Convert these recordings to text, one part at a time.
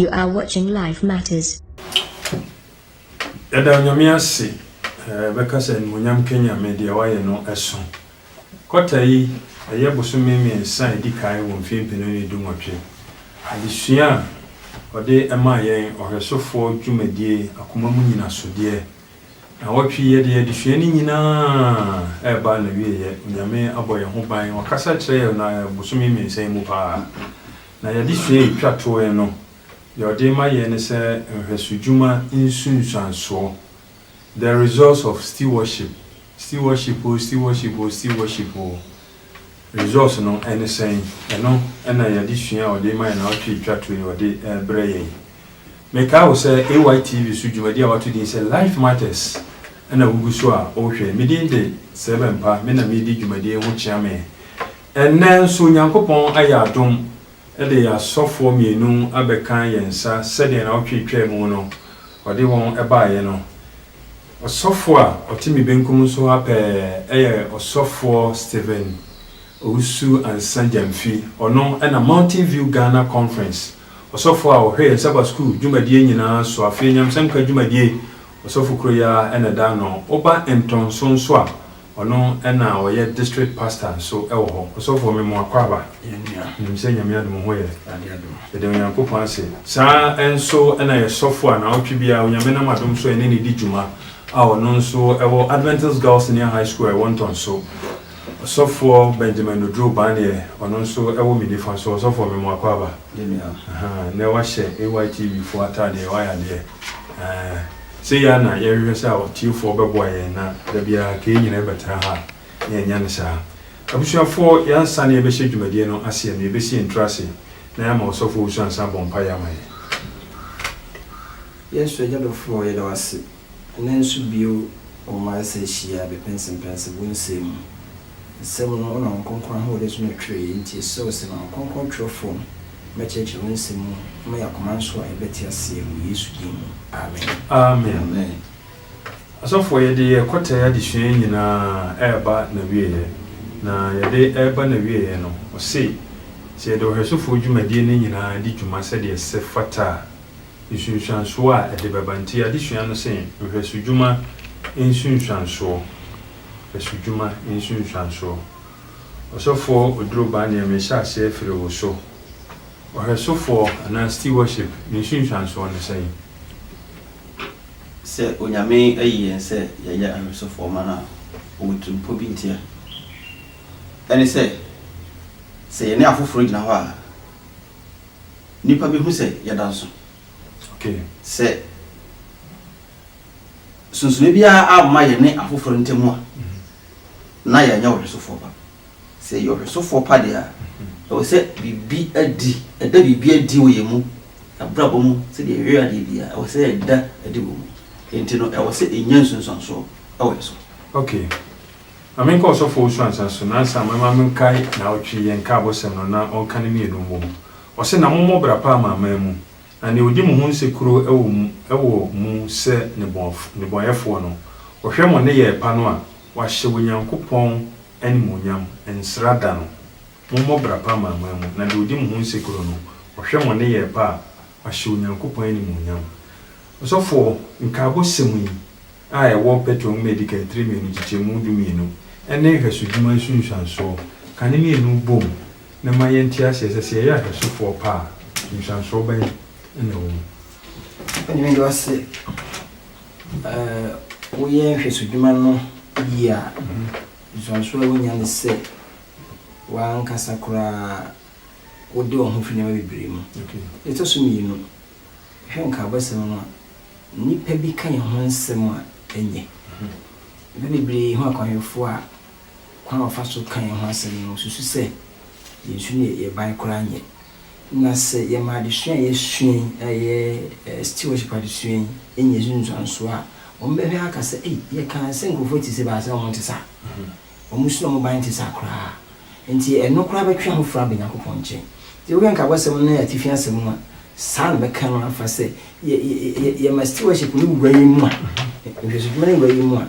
You are watching Life Matters. Yɛda Onyame ase, eh, bɛka sɛ animuonyam Kenya me deɛ wayɛ no ɛso. Kɔta yi, ɛyɛ bosome mmiɛnsa a ɛdi kan wɔ mfeɛ mpenu ne dunwɔtwe. Adesua a ɔde maa yɛn ɔhwɛsofoɔ dwumadie akoma mu nyinasodeɛ. Nnawɔtwe yi yɛde yɛn adesua no nyinaa reba n'awieɛ. Onyame abɔ yɛn ho ban, wakasa akyerɛ yɛn na bosome mmiɛnsa yi mu paa. Na y'adesua a ɛtwa toeɛ no, deɛ ɔde rema yɛn ne sɛ nhwɛsodwuma nsunsuansoɔ. The Results of Stewardship, Stewardship o, Stewardship o, Stewardship o, Results no ne sɛn? Ɛno na yɛn adesua a ɔde rema yɛn naawɔtwe a etwa to yi ɔde rebrɛ yɛn yi. Mekae wo sɛ AYTV so dwumadi a wɔato din sɛ Life Matters na wugu so a worehwɛ. Me din de Sɛbɛmpa, me na meredi dwumadi yi ho kyeame. Ɛnnɛ nso Onyankopɔn ayɛ adom de yɛn asɔfoɔ mmienu abɛka yɛn nsa sɛdeɛ naawɔtwe twaa mu no ɔde wɔn baeɛ no. Ɔsɔfoɔ a ɔte me benkum so ha pɛɛ yɛ Ɔsɔfoɔ Stephen Owusu Ansah Gyamfi. Ɔno na Mountain View Ghana Conference ɔsɔfoɔ a ɔhwɛ yɛn Sabbath School dwumadie nyinaa so. Afei Nyamesanka dwumadie ɔsɔfo koro yi ara na ɛda ano. Woba ntɔnso nso a, Ɔno na ɔyɛ district pastor nso wɔ hɔ. Ɔsɔfoɔ me mo akwaaba. Yɛn nua. Menim sɛ Nyame adom ho yɛ. Nyame adom. Yɛda Onyankopɔn ase. Saa ara nso na yɛn sɔfoɔ a naawɔtwe biara Onyame nam adom so yɛne no di dwuma a ɔno nso wɔ Adventist Girls Senior High School a ɛwɔ Ntɔnso. Ɔsɔfoɔ Benjamin Oduro Baneɛ, ɔno nso wɔ me nifa so. Ɔsɔfoɔ me mo akwaaba. Yɛn nua. Ahaa, nnɛ wahyɛ AYTV foɔ ataadeɛ, wayɛ adeɛ. Aah. Sɛ yɛ a na yɛhwehwɛ sɛ aɔtiefoɔ bɛboa yɛn na da biara kei nyinaa bɛtena ha a, na yɛnyɛ no saa. Abusuafoɔ, yɛ ansa na yɛbɛhyɛ dwumadie no aseɛ no, yɛbɛsi yɛn tiri ase na yɛama Ɔsɔfo Owusu Ansah abɔ mpaeɛ ama yɛn. Yɛn Soro Agya dɔfoɔ, yɛda wo ase nnɛ nso bio wɔ mmaeɛ sɛ hyia bɛpɛnsepɛnse wo nsɛm mu. Nsɛm no wonam Wo Kronkron ahoɔden so na ɛtwerɛeɛ, enti yɛsrɛ wo sɛ ma Wo Kronkron twerɛfoɔ no Mɛkyerɛkyerɛ wo nsɛm mu. Na mayɛ akoma nso a ɛbɛte aseɛ wɔ Yesu din mu. Amen. Amen. Amen. Asɔfoɔ yɛde yɛ kɔtae adesua yi nyinaa reba n'awieɛ. Na yɛde reba n'awieɛ no, ɔse sɛ yɛde ɔhwɛsofoɔ dwumadie no nyinaa di dwuma sɛdeɛ ɛsɛ fata a, nsunsuansoɔ a ɛde bɛba. Nti adesua no se nhwɛsodwuma nsunsuansoɔ. Nhwɛsodwuma nsunsuansoɔ. Ɔsɔfoɔ Oduro Ba neɛ mehyɛ aseɛ firi wo so. Ɔhwɛsofoɔ anaa Stewardship ne nsunsuansoɔ ne sɛn? Sɛ Onyame ayi yɛn sɛ yɛyɛ ahwɛsofoɔ ma no a, ɔwɔ tirimpɔ bi ntia. Ɛne sɛ, sɛ yɛne afoforɔ gyina hɔ a, nnipa bɛhu sɛ yɛda nso. Okay. Sɛ. nsonsonoe biara amma yɛne afoforo ntam a, na yɛnyɛ ɔhwesofoɔ pa. Sɛ yɛyɛ ɔhwesofoɔ pa deɛ a, ɛwɔ sɛ biribi adi, ɛda biribi adi wɔ yɛn mu, abrabɔ mu, sɛdeɛ yɛhwɛ adeɛ biara, ɛwɔ sɛ ɛda adi wɔ mu. Enti no, ɛwɔ sɛ ɛnya nsunsuansoɔ wɔ yɛn so. Okay. Ma menkɔ Ɔsɔfo Owusu Ansah so, nansa mɛma menkae naawɔtwe yɛn nkaabɔsɛm no na ɔnka no mmienu mmom. Ɔse, Na mommɔ bra pa ama aman mu. Na nea ogye mo ho nsekuro wɔ mu wɔ mu sɛ nnebɔneyɛfoɔ no, ɔhwɛ mo nneyɛɛ pa no a, wahyɛ Onyankopɔn animuonyam, nsra da no. Mommɔ bra pa amanaman mu, na deɛ ogye mo ho nsekuro no, ɔhwɛ mo nneyɛɛ pa a, wahyɛ Onyankopɔn animuonyam. Ɔsɔfoɔ, nkaabɔ sɛm yi a ɛwɔ Petro Nwoma a Edikan tire mmienu nkyekyɛmu dummienu ne nhwɛsodwuma nsunsuansoɔ, ka ne mmienu bom na ɛma yɛnte aseɛ sɛ, sɛ yɛyɛ ahwɛsofoɔ pa a, nhyɛnsoɔ bɛn na ɛwɔ mu? Ɛno de, ɔse, eh, woyɛ nhwɛsodwuma no yie a, nhyɛnsoɔ a wonya ne sɛ, w'ankasa koraa wode wo ho fi nneɛma bebree mu. Okay. Deɛ ɛtɔ so mmienu, hwɛ nkaabɔsɛm no a, nnipa bi ka yɛn ho nsɛm a, ɛnyɛ. Nnipa bebree hu akwammɔfoɔ a, Kwan a wɔfa so ka yɛn ho asɛm no, wosusu sɛ yɛn su ne yɛn ban koraa nyɛ. Na sɛ yɛma adesua a yɛasua yi, a ɛyɛ stewardship adesua yi, nya nsunsuanso a, wɔbɛhwɛ aka sɛ, 'Ei, yɛkaa sɛ nkurɔfo te sɛ baasa a wɔnte saa. Wɔn su ne wɔn ban nte saa koraa. Enti ɛno koraa bɛtwe afoforo aba Onyankopɔn nkyɛn. Sɛ wohwɛ nkabɔsɛm no atifi asɛm no a, saa na ɛbɛka no afa sɛ, yɛma stewardship no wura yɛn mu a, nhwɛsodwuma no wura yɛn mu a,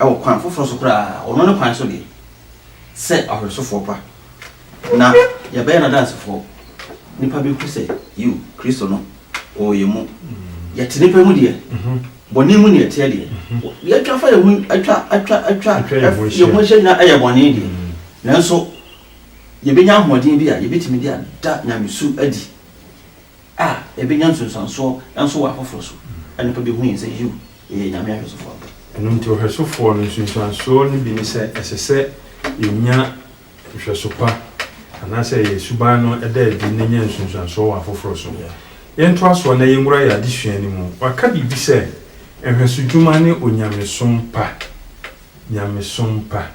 Wɔ kwan foforɔ so koraa, ɔno ne kwan so deɛ, sɛ ɔhwɛsofoɔ pa, na yɛbɛyɛ n'adansefoɔ. Nnipa bɛhu sɛ, yiw, Kristo no, ɔwɔ yɛn mu. Yɛte nnipa mu deɛ, bɔne mu na yɛteɛ deɛ, deɛ atwa afa yɛn ho, atwa, atwa, atwa, Atwa yɛn ho ɛf- yɛn ho ahyia. ahyia nyinaa yɛ bɔne deɛ. Nanso, yɛbɛnya ahoɔden bi a yɛbɛtumi de ada nyamesu adi. a yɛbɛnya nsunsuansoɔ nso wɔ afoforɔ so na nnipa bɛhu yɛn sɛ, Yiw, yɛyɛ Nyame ahwɛsofoɔ ampa. Ɛno nti, ɔhwɛsofoɔ no nsunsuansoɔ no bi ne sɛ, ɛsɛ sɛ yɛnya nhwɛso pa anaasɛ yɛn suban no da adi na ɛnya nsunsuansoɔ wɔ afoforɔ so. Yɛntoa so na yɛnwura yɛn adesua no mu. Wɔaka biribi sɛ, Nhwɛsodwuma ne onyamesom pa. Nyamesom pa.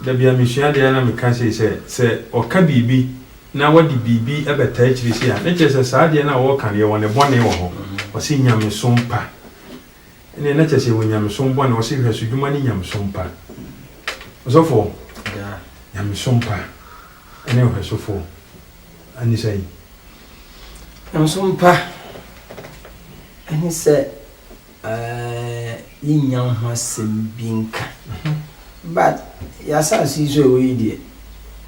Da bi a mesua adeɛ a na meka sei sɛ, sɛ wɔka biribi na wɔde biribi bɛtaa akyiri sei a, na kyerɛ sɛ saa adeɛ no a wɔreka no, yɛwɔ ne bɔne wɔ hɔ. Ɔse nyamesom pa. Ɛnneɛ na kyerɛ sɛ yɛwɔ nyamesom bɔne. Ɔse nhwɛsodwuma ne nyamesom pa. Ɔsɔfoɔ, nyamesom pa ne ɔhwɛsofoɔ ne sɛn? Nyamesom pa ne sɛ Eh, yenya ho asɛm bi nka. But yɛ asaase yi so ɛwɔ yi deɛ,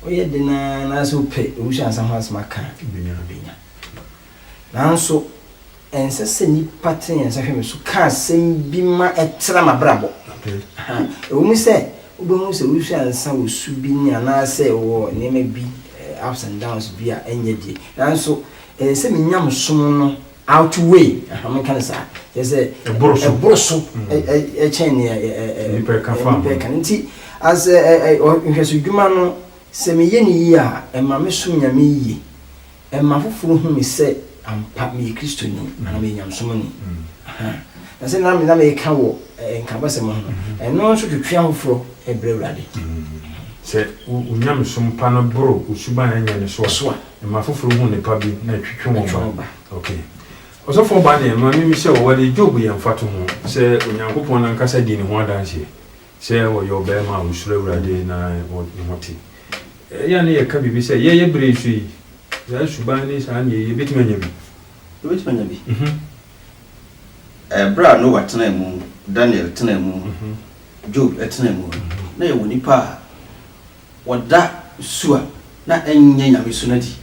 woyɛ den ara na sɛ wopɛ awusuansa ho asɛm aka a, wobenya no benya. Nanso, ɛnsɛ sɛ nnipa tene yɛn nsa hwɛ me so ka asɛm bi ma ɛtra m'abrabɔ. Ɛwɔ mu sɛ wobɛhu sɛ awusuansa wɔ su bi ne anaasɛ wɔ nneɛma bi, eh, ups and downs bi a ɛnyɛ deɛ, nanso ɛsɛ sɛ menya me som no Outweigh, aha, menka no saa. Kyerɛ sɛ, Ɛboro so. ɛboro so mm. ɛ- ɛ- ɛkyɛn nea ɛ- ɛ- ɛ- Nnipa ɛka fa nnipa ho. ɛka no. Nti, as ɛ- ɛ- ɛ- ɔ- nhwɛsodwuma no, sɛ meyɛ no yie a, ɛma mesom Nyame yie. Ɛma foforɔ hu me sɛ ampa meyɛ Kristoni mm. anaa meyɛ nyamesomni. Mm. Aha. Na sɛ na me- na meka wɔ ɛ- ɛ, nkabasɛm ho no, mm-hmm. ɛno nso twetwe ahoforɔ ɛbrɛ Awurade. sɛ wo nyamesom pa no boro wo suban anya ne so a Ɛma afoforo hu nnepa bi na ɛtwetwe wɔn ba. Ok. Ɔsɔfoɔ baa deɛ, ma me mmisa o, wɔde Job yɛ mfatoho sɛ Onyankopɔn no ankasa dii ne ho adanseɛ sɛ ɔyɛ ɔbarima a ɔsuro Awurade na ne ho te. Ɛyɛ a na yɛka biribi sɛ, yɛn yɛ berɛ yi so yi, saa suban ne saa nneɛ yi, yɛbɛtumi anya bi? Yɛbɛtumi anya bi. Ɛberɛ a Noa tenaa mu, Daniel tenaa mu, Job tenaa mu no, na yɛwɔ nnipa a Wɔda su a na ɛnyɛ nyamesu no adi.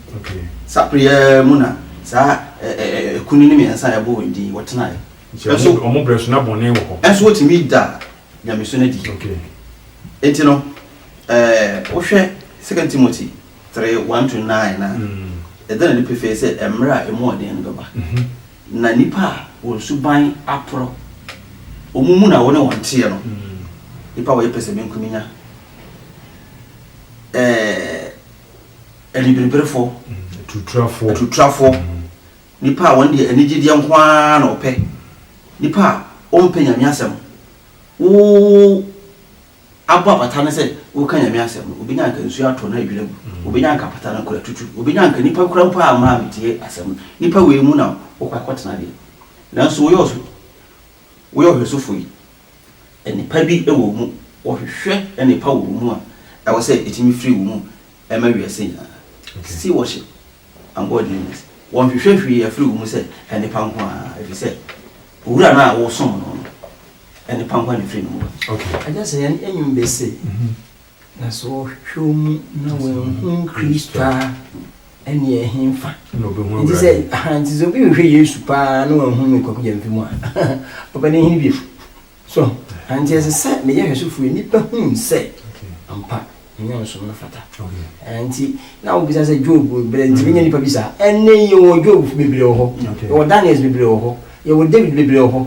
Saa bere yi ara mu na saa akunini mmiɛnsa a yɛabɔ wɔn din yi, wɔtenae. Nanso wɔn bere so na bɔne wɔ hɔ. Nanso wotumi daa nyamesu no adi. Enti no, wohwɛ Second Timothy three, one to nine no a, ɛda no adi pefee sɛ mmere a emu yɛ den no bɛba, na nnipa a wɔn suban aporɔw, wɔn mu na wo ne wɔn teɛ no, nnipa a wɔyɛ pɛsɛmenkominya, anibiribirefo, atutrafo, nipa a wɔn deɛ anigyedeɛ nko ara na ɔpɛ, nipa a ɔmpɛ nyame asɛm. Wo abɔ apata no sɛ woka nyame asɛm no, obenya nka nsuo atɔ na adwira gu, mm. obenya nka apata no kora tutu, obenya nka nipa kura mpo a maa metie asɛm no, nipa wei mu na wokɔ akɔtena deɛ. Nanso woyɛ ɔso, woyɛ ɔhwɛsofo yi. nnipa bi wɔ wo mu, wɔhwehwɛ nnepa wɔ wo mu a ɛwɔ sɛ ɛtumi firi wo mu ma wiase nyinaa. Still worship and God name it. Wɔnhwehwɛ hwee afiri wo mu sɛ nnepa nko ara ɛfiri sɛ Owura no a wosom no no, nnepa nko ara na ɛfiri ne mu ba. Ɛnyɛ sɛ yɛn nnwom bɛ se. Na sɛ ɔhwehwɛ omu na wanhu Kristo a, ɛnneɛ ɛhenfa? Na ɔbɛhu awurade. Nti sɛ, aha, nti sɛ obi hwehwɛ Yesu paa na wanhu no Kwaku Gyamfi mu a, ɔbɛn ne hene bio. So, anti ɛsɛ sɛ me yɛ hwɛsofoɔ yi, nnipa hu me sɛ ampa me nyamesom no fata. Okay. Nti, na wobisa sɛ Job berɛ, nti menya nnipa bi saa. Ɛnnɛ yi yɛwɔ Jobfo bebree wɔ hɔ, yɛwɔ Daniels bebree wɔ hɔ, yɛwɔ David bebree wɔ hɔ.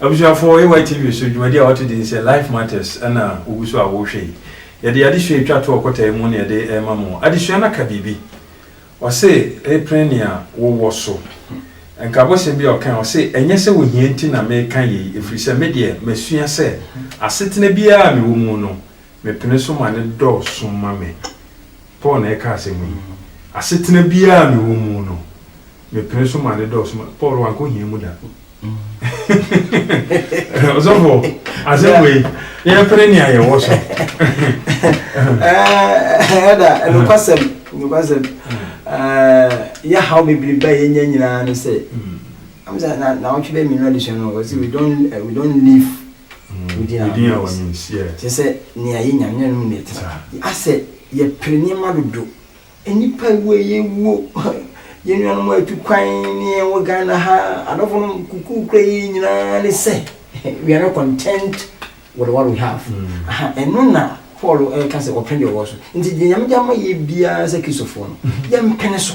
Abusuafo, AYTV so dwumadi a ɔte din sɛ Life Matters na wogu so a wohwɛ yi. Yɛde adesua a etwa to ɔkwata yi mu na yɛde rema mo. Adesua no aka biribi. Ɔse, Repene nea wowɔ so. Nka abɔsɛm bi a ɔkae, ɔse, Ɛnyɛ sɛ ohia nti na mereka yei, ɛfiri sɛ me deɛ, masua sɛ asetena biara a mewɔ mu no, Mepene so ma no dɔɔso ma me. Paul na ɛka asɛm yi. Asetena biara a mewɔ mu no, mepene so ma no dɔɔso ma. Paul wankɔ hia mu da. Ɔsɔfo, asɛm wei, yɛmpene nea yɛwɔ so. Ɛda, nokwasɛm, nokwasɛm. Yɛhaw bebrebe a yɛnya nyinaa ne sɛ, na na ɔtwe bɛyɛ mmienu adesua no, we don't, we don't live Wodin a wɔnyin seɛ. Kyerɛ sɛ nea yenya no, yɛn mu na ɛtra. Asɛ yɛpere nneɛma dodo. Nnipa wu a yɛwuo, yɛn nuanom a atu kwan ne yɛn wɔ Ghana ha, adɔfo nom kuku kura yɛn nyinaa ne sɛ we are not content with what we have. Aha, ɛno na Paul ɛreka sɛ ɔpene deɛ ɔwɔ so. Nti deɛ Nyame de ama yɛ biara sɛ Kristofoɔ no, yɛmpene so.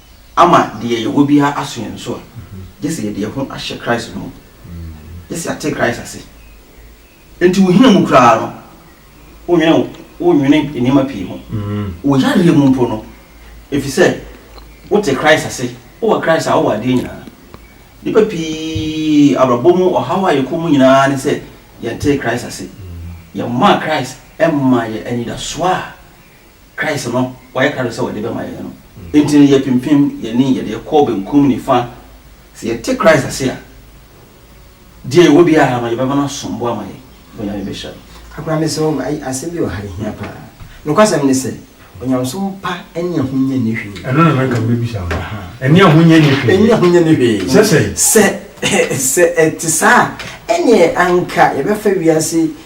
ama deɛ yɛwɔ biara aso yɛn so a, gye sɛ yɛde yɛn ho ahyɛ Christ no mu. Gye sɛ yɛate Christ ase. Enti wo hia mu koraa no, wonwene wo, wonwene nneɛma pii ho. Wo yareɛ mu mpo no, ɛfiri sɛ wote Christ ase, wowɔ Christ a, wowɔ adeɛ nyinaa. Nnipa pii abrabɔ mu ɔhaw a yɛkɔ mu nyinaa ne sɛ yɛntee Christ ase. Yɛmmaa Christ mmaa yɛn anidasoɔ a Christ no wɔayɛ krado sɛ wɔde bɛma yɛn no nti no, yɛpempem yɛn ani, yɛde yɛn kɔ benkum, nifa. Sɛ yɛte Christ ase a, deɛ yɛwɔ biara no, yɛbɛma no asom bo ama yɛn, na Onyame bɛhyira yɛn. Akora me sɛ ai asɛm bi wɔ ha ɛhia paa. Nokwasɛm ne sɛ, onyamesom pa ɛne ahonya nni hwee. Ɛno na na nka mebisa wo no. Ɛne ahonya nni hwee. Ɛne ahonya nni hwee. Sɛ sɛn? Sɛ sɛ ɛte saa a, ɛneɛ anka yɛbɛfa wiase.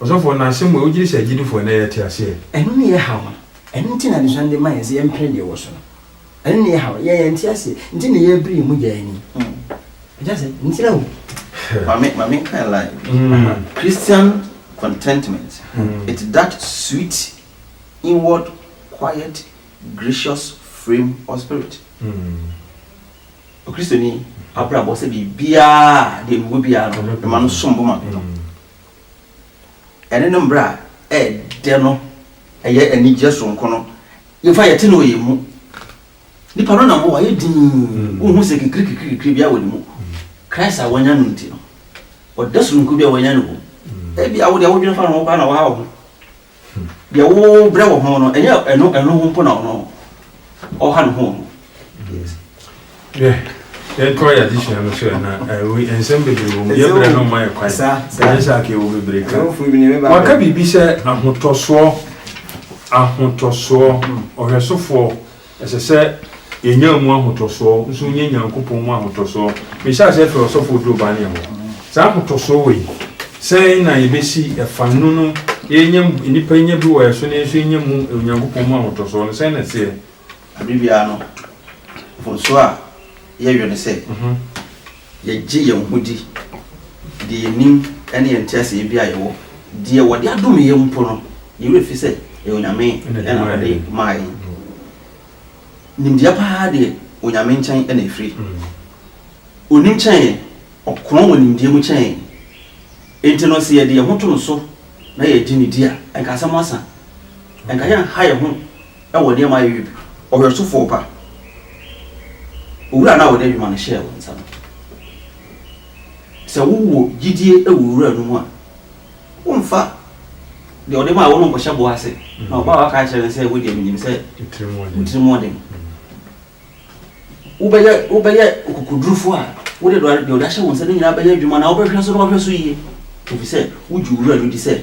Ɔsɔfoɔ no asɛm wei wogyedi sɛ agyidifoɔ ɛnɛ yɛte aseɛ. Ɛno ne yɛ haw no ɛno nti na adesua no de ma yɛn sɛ yɛmpere deɛ ɛwɔ so no ɛno ne yɛ haw yɛn yɛnte aseɛ nti na yɛbere yɛn mu gya yɛn ani ɛgya sɛ ntira o. Mame mame nka line mm. Christian contentment mm. it's that sweet inward quiet gracious frame of spirit. Mm. Okristoni abrabɔ sɛ biribiara a deɛ mewɔ biara no, mema no som bo ma me no, ɛne ne mmerɛ a ɛyɛ dɛ no, ɛyɛ anigyeɛ soronko no, yɛmfa yɛte no wɔ yɛn mu. Nipa no nam hɔ, wayɛ dinn, wonhu sɛ kikirikikirikiri biara wɔ ne mu. Christ a wanya no nti no, ɔdɛ soronko bi a wanya no wɔ mu. Ebia wo deɛ wodwene fa ne ho koraa na waha wo ho. Deɛ wo brɛ wɔ ho no, ɛnyɛ ɛno ɛno ho mpo na ɔno ɔha ne ho no. Yes. Yeah. yɛtɔ yɛ adesua no so na nsɛm bebree wɔ mu yɛbrɛ no ma yɛ kwan ɛnyɛ sɛ aka ɛwɔ bebree ka waka biribi sɛ ahotɔsoɔ ahotɔsoɔ ɔhwɛsofoɔ Ɛsɛ sɛ yenya mu ahotɔsoɔ nso nyɛ Nyankopɔn mu ahotɔsoɔ. Mehyɛ aseɛ frɛ ɔsɔfo Odo ba ne ɛhɔ. Saa ahotɔsoɔ wei, sɛn na yɛbɛsi fa no no? Yɛnya mu, nnipa nya bi wɔ yɛn so na yɛn nso yɛnya mu Onyankopɔn mu ahotɔsoɔ no, sɛn na ɛteɛ? Aberɛ biara no, mfomsoɔ a. Yɛyɛ no sɛ yɛgye yɛn ho di de yɛn nim ne yɛn nteaseɛ bi a yɛwɔ. Deɛ wɔde adome yɛn mpo no, yɛn werɛ fi sɛ ɛyɛ Onyame na ɔde maa yɛn. Nimdeɛ pa ara deɛ, Onyame nkyɛn na ɛfiri. Ɔnim kyɛn yɛn, ɔkorɔn wɔ nimdeɛ mu kyɛn yɛn. Enti no, sɛ yɛde yɛn ho to no so na yɛgye no di a, ɛnka asɛm asa. Ɛnka yɛnha yɛn ho wɔ nneɛma a ɛyɛ ɔhwɛsofoɔ pa, Owura no a wɔde adwuma no hyɛɛ wo nsa no. Sɛ wowɔ gyidie wɔ Owura no mu a, womfa deɛ ɔde maa wo no nkɔhyɛ boɔ ase, na ɔba a waka akyerɛ no sɛ, Wodeɛ menim sɛ wo tirim wɔ den. Wobɛyɛ wobɛyɛ ɔkokodurufoɔ a wode deɛ ɔde ahyɛ wo nsa no nyinaa bɛyɛ adwuma na wobɛhwɛ so na wahwɛ so yie, ɛfiri sɛ wogye Owura no di sɛ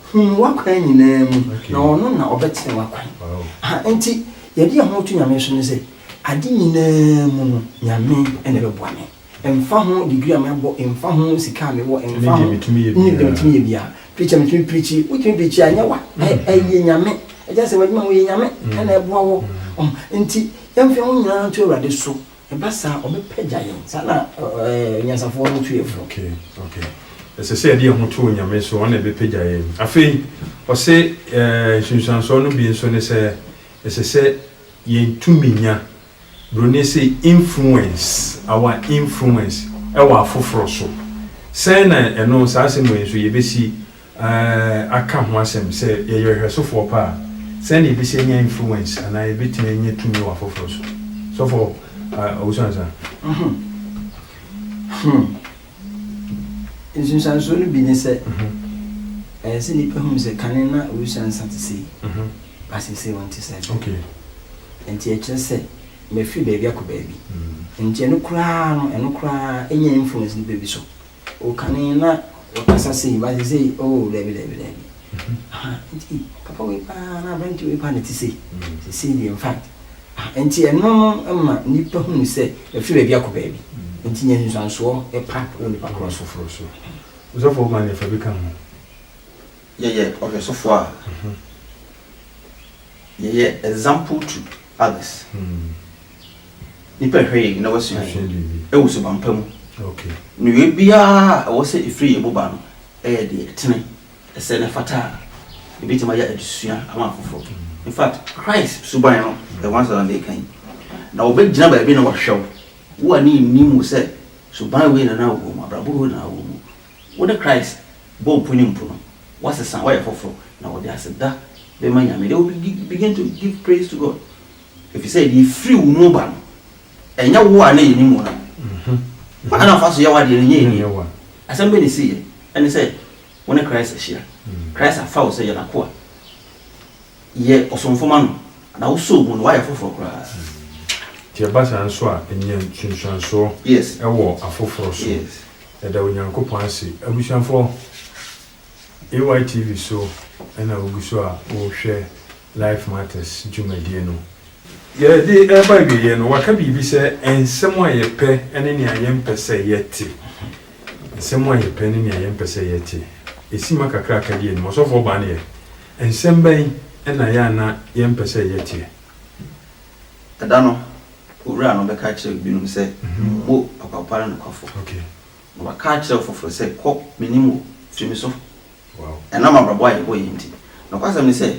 Hu no w'akwan nyinaa mu, na ɔno na ɔbɛtene w'akwan. Aha, enti yɛde yɛn ho to Nyame so ne sɛ, ade nyinaa mu no, Nyame na ɛbɛboa me. Ɛmfa ho degree a mabɔ, ɛmfa ho sika a mewɔ, ɛmfa ho, ɛne deɛ metumi yɛ biara. Preacher, metumi preachi, wotumi preachi a, ɛnyɛ wa, ɛyɛ Nyame. Ɛgya sɛ w'adwuma mu yɛ Nyame na ɛboa wɔ. Enti yɛmfa yɛn ho nyinaa nto Awurade so, Ɛba saa a, wɔbɛpagya yɛn. Saa na anyansafoɔ no tu yɛn fo. Okay, okay. Ɛsɛ sɛ yɛde yɛn ho to Onyame so, ɔno na ɛbɛpagya yɛn. Afei, ɔse eh, nsunsuansoɔ no bi nso ne sɛ, ɛsɛ sɛ yɛn tumi nya, Buroni se influence, our influence, ɛwɔ afoforɔ so. Sɛn na ɛno, saa asɛm wei nso, yɛbɛsi aka ho asɛm sɛ yɛyɛ ɔhwɛsofoɔ pa a, sɛn na yɛbɛsi anya influence anaa yɛbɛtumi anya tumi wɔ afoforɔ so? Sɔfoɔ Owusu Ansah. Ɔho. Hmm. Nsunsuansoɔ no bi ne sɛ, ɛyɛ sɛ nnipa hunu sɛ kane na Owusu Ansah te sei, but seesei ɔnte saa bio. Okay. Nti ɛkyerɛ sɛ mafiri baabi akɔ baabi. Nti ɛno koraa no, ɛno koraa nya influence nnipa bi so. O kane na ɔkasa sei ba sesei oh dabi dabi dabi aha nti papa wei paa na aberante wei paa na ɛte sei sesei deɛ infact aha nti ɛno no ma nnipa hunu sɛ ɛfiri baabi akɔ baabi nti nya nsusuansoɔ pa wɔ nipa korɔ so. Osɔfo ma ne fa bi ka ho. Yɛyɛ ɔhwɛsofo a, yɛyɛ example to others. Nnipa hwɛ yɛn na wɔasua yɛn wɔ suban pa mu. Nneyɔe biara a ɛwɔ sɛ ɛfiri yɛn mu ba no yɛ deɛ ɛtene, ɛsɛ na ɛfata a ɛbɛtumi ayɛ adesua ama afoforɔ. In fact, Christ suban no, the ones that are there kan, na wɔbɛgyina baabi na wɔahwɛ wo, wo a ne nnim wo sɛ suban wei na na wowɔ mu, abrabɔ wei na na wowɔ mu. Wode Christ bɔɔ po ne mpo no, woasesa, woayɛ foforo, na wɔde aseda bɛma Nyame. They will be begin to give praise to God, efisɛ deɛ efiri wo mu ba no, ɛnyɛ wo a na yɛnim wo no. Kwan a na wofa so yɛ w'adeɛ no, ɛnyɛ yɛn deɛ. Asɛm bɛn na esiiɛ? Ɛne sɛ wo ne Christ ahyia. Christ afa wo sɛ yɛ N'akoa. Yɛ ɔsomfo ma No, na wosɔ Obu no, woayɛ foforo koraa. Nti ɛba saa nso a, nya nsunsuansoɔ Yes. wɔ afoforo so. Yes. Yɛda Onyankopɔn ase abusuafoɔ. AYTV so na wogu so a worehwɛ Life Matters dwumadie no. Yɛde reba awieeɛ no, wɔaka biribi sɛ nsɛm a yɛpɛ ne nea yɛmpɛ sɛ yɛte. Nsɛm a yɛpɛ ne nea yɛmpɛ sɛ yɛte. Ɛsi ma kakra a ɛkadi anim. Ɔsɔfoɔ baa no yɛ. Nsɛm bɛn na yɛ a na yɛmpɛ sɛ yɛteɛ? Ɛda no, owura no bɛka akyerɛ binom sɛ, Mo papa pa ne nokwafo. Na waka akyerɛ ɔfoforo sɛ, Kɔ, minnim wo, firi me so. Ɛnam abrabɔ a yɛbɔ yi nti, nokwasɛm ne sɛ,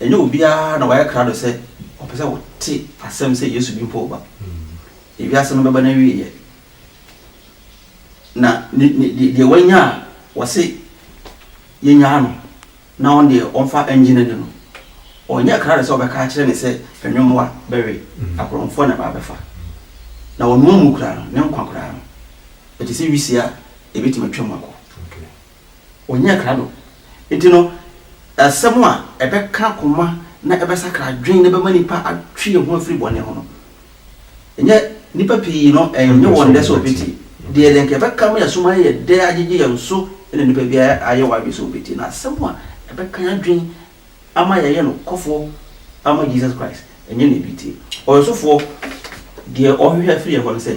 ɛnyɛ obiara na wayɛ krado sɛ ɔpɛ sɛ ɔte asɛm sɛ Yesu bi mpo reba. Wiase no bɛba n'awieeɛ, na deɛ wanya a, wɔse, Yɛnyaa no. Na ɔno deɛ ɔmfa ngye n'ani no, ɔnyɛ krado sɛ wɔbɛka akyerɛ no sɛ anwommoa bɛwe, akorɔmfoɔ na ɛba abɛfa. Na ɔno mmu koraa no, ne nkwa koraa no, ɛte sɛ wisie a ɛbɛtumi atwa mu akɔ. Ɔnyɛ krado. Enti no, asɛm a ɛbɛka koma na ɛbɛsakra adwene na ɛbɛma nipa atwe ne ho afiri bɔne ho no, Ɛnyɛ nnipa pii no ɛnyɛ wɔn dɛ sɛ wɔbɛtie. Deɛ deɛ nka ɛbɛka ama yɛasom ayɛ yɛ dɛ agyegye yɛn so na nnipa bi ayɛ wɔn adwene sɛ wɔbɛtie no. Asɛm a ɛbɛka yɛn adwene ama yɛayɛ nokwafoɔ ama Jesus Christ, ɛnyɛ na ɛbi tie. Ɔyɛsofoɔ, deɛ ɔhwehwɛ afiri yɛn hɔ ne sɛ.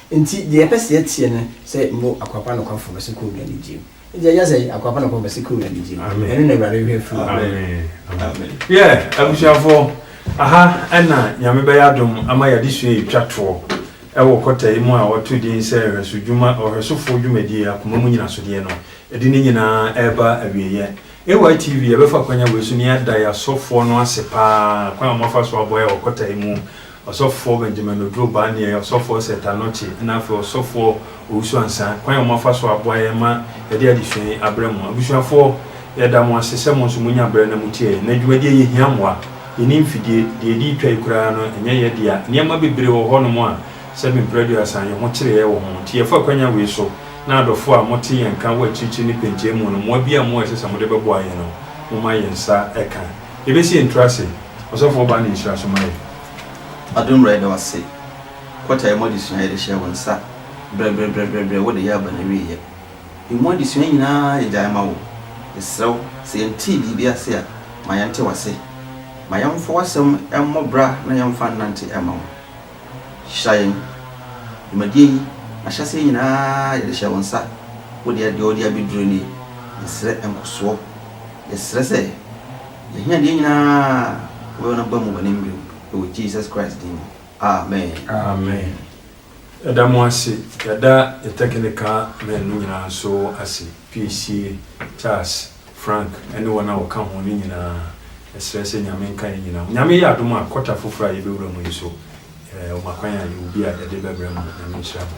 Ntsi dza yɛpɛ sɛ yɛtse nye sɛ mbo akwapa nokwafo bɛhyɛ Kowura enyigye mu. Edze yɛyɛ dɛn? Akwapa nokwafo bɛhyɛ Kowura enyigye mu. Ɛno na Ewuradze hwehwɛ fir hɔn. Yeah, abusuafo, aha na Nyame bɛyɛ adom ama y'adesua yi etwa toɔ wɔ kɔta yi mu a wɔto din sɛ Nhwɛsodwuma, Ɔhwɛsofo Dwumadie, Akoma mu Nyinasodeɛ no. Ɛde ne nyinaa reba awieɛ. AY TV, yɛbɛfa akwanya wei so na yɛada yɛasɔfoɔ no ase paa kwan a wɔafa so aboa yɛn wɔ kɔta yi mu Ɔsɔfoɔ Benjamin Oduro Obaa ne yɛn Ɔsɔfoɔ Seth Anokye ɛna afei Ɔsɔfoɔ Owusu Ansah, kwan a wɔn afa so aboa yɛn ma yɛde adesua yi abrɛ mo. Abusuafoɔ, yɛda mo ase sɛ mo nso mo nya berɛ na mo tie yɛn. Nnɛ dwumadie yi hia mmoa. Yɛnni mfidie. Deɛ yɛde retwa yi koraa no ɛnyɛ yɛn dea. Nneɛma bebree wɔ hɔ nom a sɛ me mprɛ aduasa a yɛn ho kyereɛ wɔ ho. Nti yɛfa kwanya wei so na adɔfoɔ a mo te yɛn nka wɔ akyirikyiri ne pɛnkyɛn mu no, mmoa biara a mo wɔ a ɛsɛ sɛ mo de bɛboa yɛn no, mo ma yɛn nsa ka. Yɛbɛsi yɛn tiri ase. Ɔsɔfo ɔbaa no nhyira so ma yɛn. Adom wura yɛda wo ase. Quarter emu adesua a yɛde hyɛɛ wo nsa brɛbrɛbrɛbrɛbrɛ wode yɛ aba na wieɛ. Emu adesua nyinaa yɛgyae ma wo. Yɛsrɛ wo sɛ yɛntee biribi ase a ma yɛnte w'ase. Ma yɛmfa w'asɛm mmɔ bra na yɛmfa nnante mma wo. hyira yɛn. Dwumadie yi, n'ahyɛseɛ nyinaa yɛde hyɛ wo nsa. Wo deɛ, deɛ ɔde abɛduru nie. Yɛsrɛ nkɔsoɔ. Yɛsrɛ sɛ, y'ahiadeɛ nyinaa wobɛma no aba mu wɔ ne mmerɛm. Ɛwɔ Jesus Christ din mu. Amen. Amen. Yɛda mo ase. Yɛda yɛn technical men no nyinaa nso ase, Piesie, Charles. Frank ne wɔn a wɔka ho no nyinaa srɛ sɛ Nyame nka yɛn nyinaa ho. Nyame yɛ adom a, quarter foforɔ a yɛbɛwura mu yi nso, wɔma kwan a yɛwɔ bi a yɛde bɛbrɛ ma. Nyame nhyira mo.